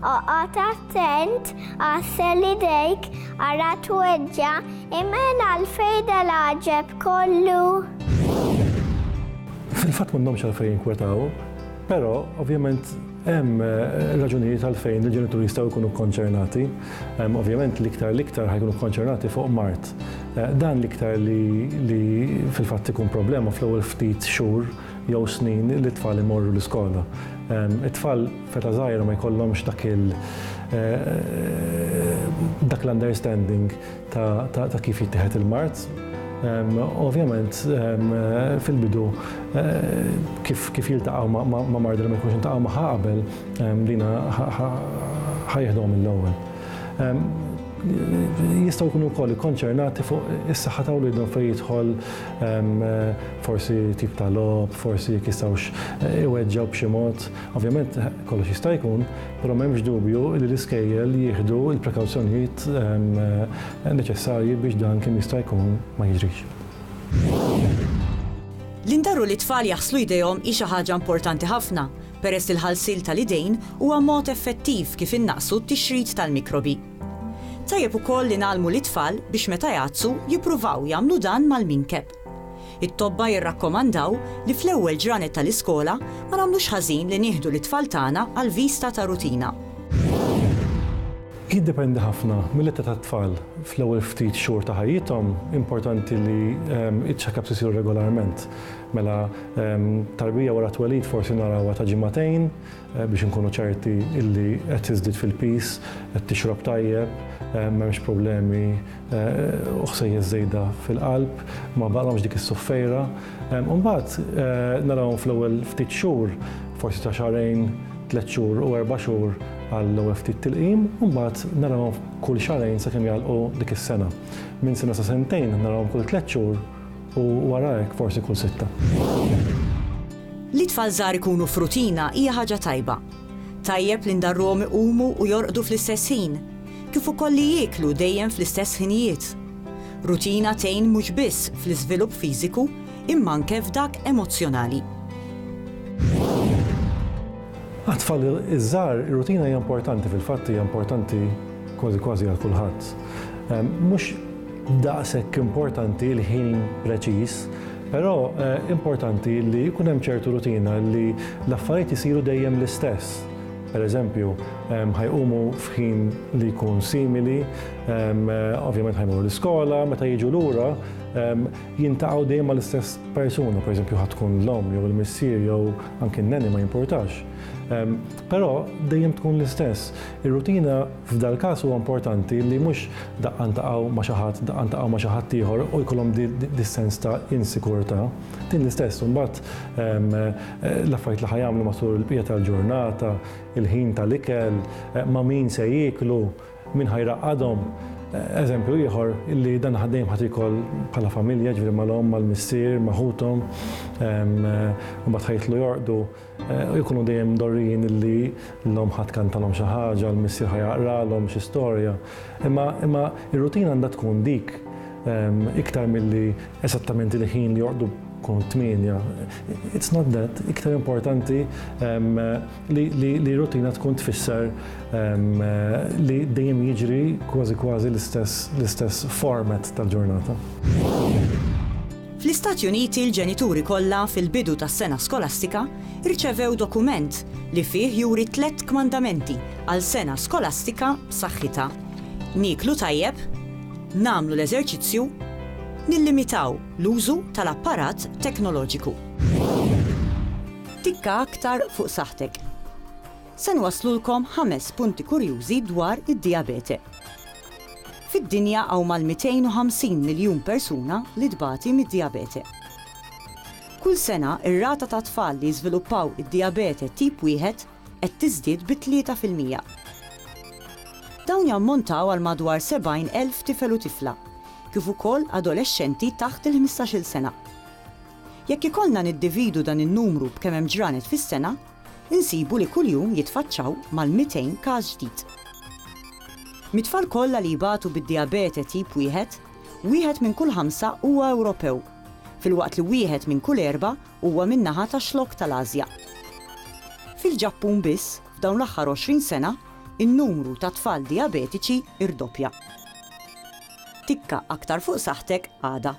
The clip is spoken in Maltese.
Oqgħod attent, għassel idejk, ara tweġġa', imgħen għalfejn dal-għaġeb kollu? Fil-fatt m'għandhomx għalfejn jinkwetaw, però ovvjament hemm eh, raġunijiet għalfejn il-ġenituri jistgħu jkunu konċernati. Ovvjament l-iktar l-iktar ħajkunu konċernati fuq mart. Eh, dan l-iktar li fil-fatt ikun problema fl-ewwel ftit xhur jew snin li t-tfal imorru l-iskola. It-tfal feta żgħira ma jkollhomx dak il dak l-understanding ta' kif jittieħed il-mard. Ovvjament fil-bidu kif jiltaqgħu ma' marda li ma jkunux iltaqgħu magħha qabel dina ħa jieħduha mill-ewwel. Jistgħu jkunu wkoll ikkonċernati fuq is-saħħa ta' wliedhom fejn jidħol forsi tip ta' logħob, forsi jekk jistgħux iweġġgħu b'xi mod. Ovvjament kollox jista' jkun, però m'hemmx dubju li l-iskejjel jieħdu l-prekawzjonijiet neċessarji biex dan kemm jista' jkun ma jiġrix. Li ndarru lit-tfal jaħslu jdejhom hi xi ħaġa importanti ħafna, peress li l-ħalsil tal-idejn huwa mod effettiv kif innaqqsu t-tixrid tal-mikrobi. Tajjeb ukoll li ngħallmu lit-tfal biex meta jgħattsu jippruvaw jagħmlu dan mal-minkeb. It-tobba jirrakkomandaw li fl-ewwel ġranet tal-iskola ma nagħmlux ħażin li nieħdu lit-tfal tagħna għal viżta ta' rutina. Jiddependi ħafna mill-età tat-tfal. Fl-ewwel ftit xhur ta' ħajjithom importanti li ċ-check-ups isiru regolarment. Mela tarbija wara t-twelid forsi narawha ta' ġimagħtejn biex inkunu ċerti li qed tiżdied fil-piż, qed tixrob tajjeb, m'hemmx problemi u ħsejjes żejda fil-qalb, ma baqalhomx dik is-suffejra. U mbagħad narawhom fl-ewwel ftit xhur, forsi ta' xahrejn, tliet xhur u erba' xhur għall-ewwel ftit tilqim, u mbagħad narawhom kull xahrejn sakemm jagħlqu dik is-sena. Minn sena sa sentejn narawhom kull tliet xhur u wara hekk forsi kull sitta. Li t-tfal żgħar ikunu f'rutina hija ħaġa tajba. Tajjeb li ndarruhom iqumu u jorqdu fl-istess ħin. kif ukoll li jieklu dejjem fl-istess ħinijiet. Rutina tgħin mhux biss fl-iżvilupp fiżiku imma anke f'dak emozzjonali. Għat-tfal iż-żgħar ir-rutina hija importanti, fil-fatt hija importanti kważi kważi għal kulħadd. Ehm, mhux daqshekk importanti l-ħin preċiż, però eh, importanti li jkun hemm ċertu rutina li l-affarijiet isiru dejjem l-istess. Pereżempju, ħa jqumu f'ħin li jkun simili, ovvjament ħa jmorru l-iskola, meta jiġu lura, jintaqgħu dejjem mal-istess persuna, pereżempju ħa tkun l-omm jew il-missier jew anke n-neni ma jimpurtax. Però dejjem tkun l-istess. Ir-rutina f'dal każ huwa importanti li mhux daqqa ntaqgħu ma' xi ħadd, daqqa ntaqgħu ma' xi ħadd ieħor u jkollhom dis-sens ta' insikurtà. Din l-istess imbagħad l-affarijiet li ħa jagħmlu matul il-bqija tal-ġurnata, il-ħin tal-ikel, ma' min se jieklu, min ħa jraqqadhom. Eżempju ieħor li dan il-ħaddejjem ħadd ikoll bħala familja, jiġifieri mal-omm, mal-missier, ma' ħuthom, imbagħad ħa jidħlu jorqdu, jkunu dejjem mdorrijin li l-omm ħa tkantalhom xi ħaġa, l-missier ħa jaqralhom xi storja. Imma r-rutina għandha tkun dik. Iktar milli esattament il-ħin li joqdu kun tminja. It's not that, iktar importanti li rutina tkun tfisser li dejjem jiġri kważi kważi l-istess format tal-ġurnata. Fl-Istati Uniti l-ġenituri kollha fil-bidu tas-sena skolastika rċevew dokument li fih juri tliet kmandamenti għal sena skolastika b'saħħitha. Nieklu tajjeb, nagħmlu l-eżerċizzju nillimitaw l-użu tal-apparat teknoloġiku. Tikka aktar fuq saħħtek. Se nwasslulkom ħames punti kurjużi dwar id-dijabete. Fid-dinja hawn mal-250 miljun persuna li tbati mid-dijabete. Kull sena r-rata tat-tfal li jiżviluppaw id-dijabete tip wieħed qed tiżdied bi tlieta fil-mija. Dawn jammontaw għal madwar 70 elf tifel u tifla, kif ukoll adolexxenti taħt il-ħmistax-il sena. Jekk ikollna niddividu dan in-numru b'kemm hemm ġranet fis-sena, insibu li kuljum jitfaċċaw mal-200 każ ġdid. Mit-tfal kollha li jbatu bid-dijabete tip wieħed, wieħed minn kull ħamsa huwa Ewropew, filwaqt li wieħed minn kull erba' Huwa min-naħa tax-Xlokk tal-Ażja. Fil-Ġappun biss, f'dawn l-aħħar 20 sena, in-numru ta' tfal dijabetiċi rdoppja. Tikka aktar fuq saħħtek għada.